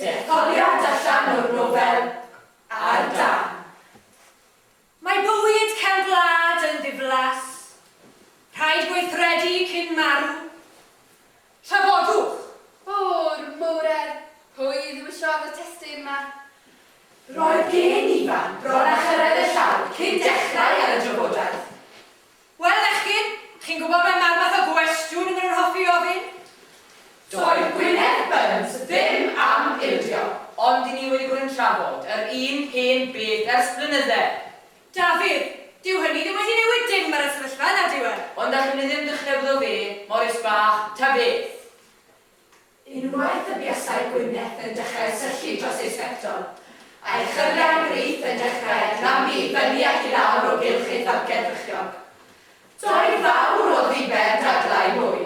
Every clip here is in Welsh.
Detholiad allan o'r nofel ar dân. Mae bywyd cefn gwlad yn ddiflas. Rhaid gweithredu cyn marw. Trafodwch. O'r moren! Pwy ddewisiodd y testun 'ma? Roedd gen i fan bron a chyrraedd y llawr cyn dechrau ar y drafodaeth. Wel, Echgyn, chi'n gwybod be mae'r math o gwestiwn y maen nhw'n hoffi ofyn? Doedd Gwyneth Burns ddim am ildio. Ond i ni wedi bod yn trafod yr un hen beth ers blynydde. Dafydd, dyw hynny ddim wedi newid dim ar y sefyllfa, nad yw e? Ond allwn ni ddim dechrau bod o fe, Morris bach, ta beth? Unwaith y buasai Gwyneth yn dechrau syllu dros ei sbectol, a'i chyriau brith yn dechrau clymu i fyny ac i lawr o gylch ei tharged frychiog. Doi fawr o ddiben dadlau mwy.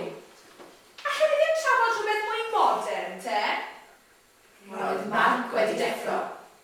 Alle ni ddim trafod rhywbeth mwy modern, te? Roedd Mark wedi deffro.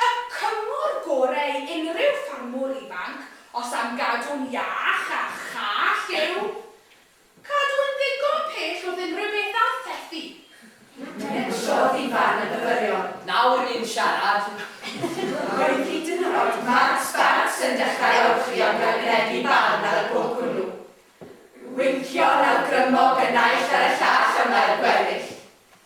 Y cyngor gorau i unrhyw ffarmwr ifanc os am gadw'n iach a chall yw cadw yn ddigon pell wrth unrhyw beth a thethu. Enillodd Ifan y Fyfyriwr! Nawr i ni'n siarad! Roedd hyd yn oed Mark Sparks yn dechrau ymchwi am gynganeddu barn ar y pwnc hwnnw. Wincio'n awgrymog y naill ar y llall ymlaen gweddill.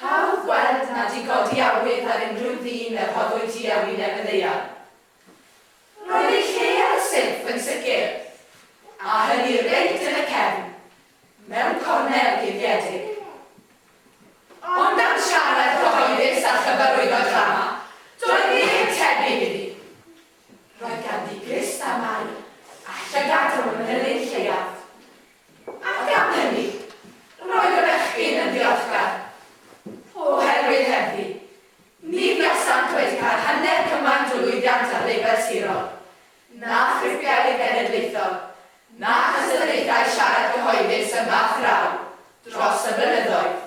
Hawdd gweld nad i godi awydd ar unrhyw ddyn a rhoddwyd hi a wyneb y ddaear. Roedd ei lle ar y silff yn sicr, a hynny reit yn y cefn, mewn cornel guddiedig. Ond am siarad cyhoeddus a chyfarwyddo drama, doedd neb yn tebyg iddi. Roedd ganddi grist a maer, a llygad o fanylion lleiaf. Ac am hynny, roedd y bechgyn yn ddiolchgar, oherwydd hebddi, ni fuasant wedi cael hanner cymaint o lwyddiant ar lefel sirol, na thripiau i'r genedlaethol, na chysylltiadau siarad cyhoeddus yma a thraw, dros y blynyddoedd.